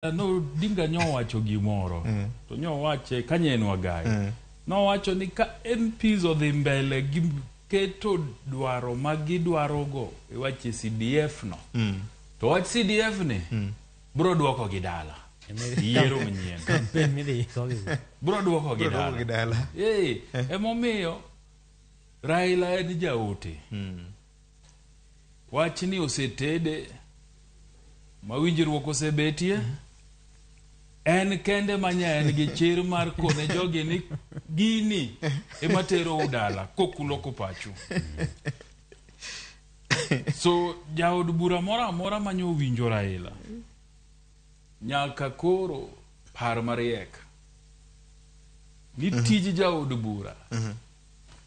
no dinga nyowacho gimoro mm. to nyowache ka nyen wagayo mm. nowacho ni ka MPs odhi mbele gi keto dwaro ma gidwarogo e wache CDF no mm. to wach CDF ni mm. bro dwoko gi dala yiero manyien bro dwoko gi dala hey, eh. emomiyo Raila en jaote mm. Wachni osetede ma winjruok osebetie. Mm -hmm en kende manya en gi chir mar kone jogi ni gini ema tero udala kokulo kopachu so jaod bura moro amora manyo owinjo raila nyaka koro par mariek ni tij jaod bura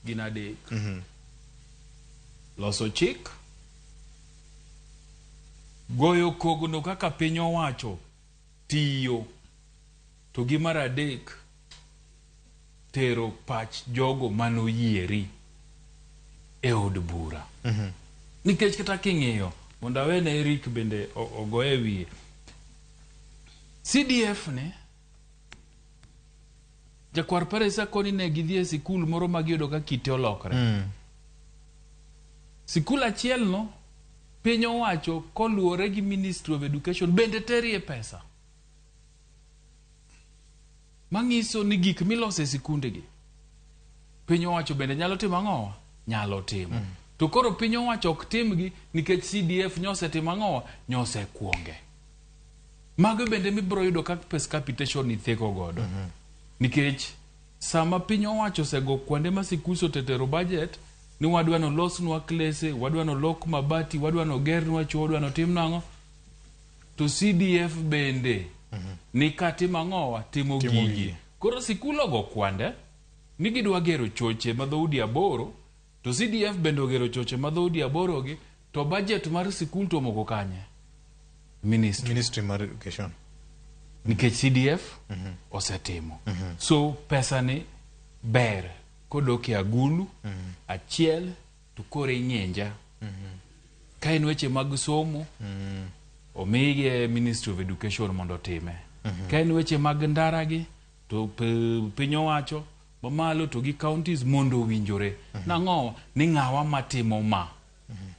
gin adek mm -hmm. loso chik goyo kogno kaka piny owacho tiyo to gi mar adek tero pach jogo manoyieri e od bura mm -hmm. nikech kata king'iyo mondo awene erik bende ogoye wiye cdf ne jakwar paresa koni ne gidhi e sikul moro ma giyudo ka kite olokre mm. sikul achielno piny owacho koluwore gi ministry of education bende terie pesa manyiso ni gik milose e sikundegi piny owacho bende nyalo timo ang'owa nyalo timo mm. to koro piny owacho ok timgi nikech cdf nyosetimo ang'owa nyosekuonge Mago bende mibiro yudo ka pes capitation ni theko godo. Mm -hmm. Nikech sama piny owacho osego kwande ma sikuso tetero budget ni wadwa no losnwa klese, wadwa no lok mabati, wadwa no gernwa chuo, wadwa no tim nango. To CDF bende mm -hmm. ni katim ang'owa timo, timo gigi. Koro sikul ogo kwande ni gidwa gero choche ma dhoudi aboro To CDF bende ogero choche ma dhoudi aborogi to budget mar sikul to omoko kanye? Ministry. Ministry mar Education. Nikech CDF mm -hmm. osetimo. Mm -hmm. So pesa ni ber kodok e agulu mm -hmm. achiel to koro ing'inja. Mm -hmm. Ka en weche mag somo mm -hmm. omige Ministry of Education mondo otime. Mm -hmm. Ka en weche mag ndaragi to piny owacho mamalo to gi counties mondo owinjore. Nang'o? Ni ng'awa matimo ma.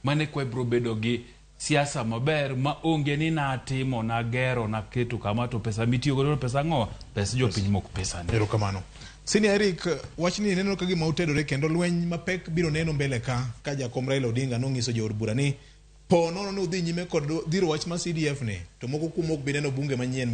Mano e kwa ibiro bedo gi siasa maber ma onge ni natimo, nagero, naketo kama to pesa mitiyo godo pesa ang'o? Pes jopiny mok pesa ni. Erokamano. Senior Eric, wachni neno ka gima otedore kendo lweny mapek biro neno mbele ka ka jakom Raila Odinga nong'iso jood bura ni po nono ni udhi nyime kod dhiro wach ma CDF ni to moko kuomu ok bi neno bunge manyien ma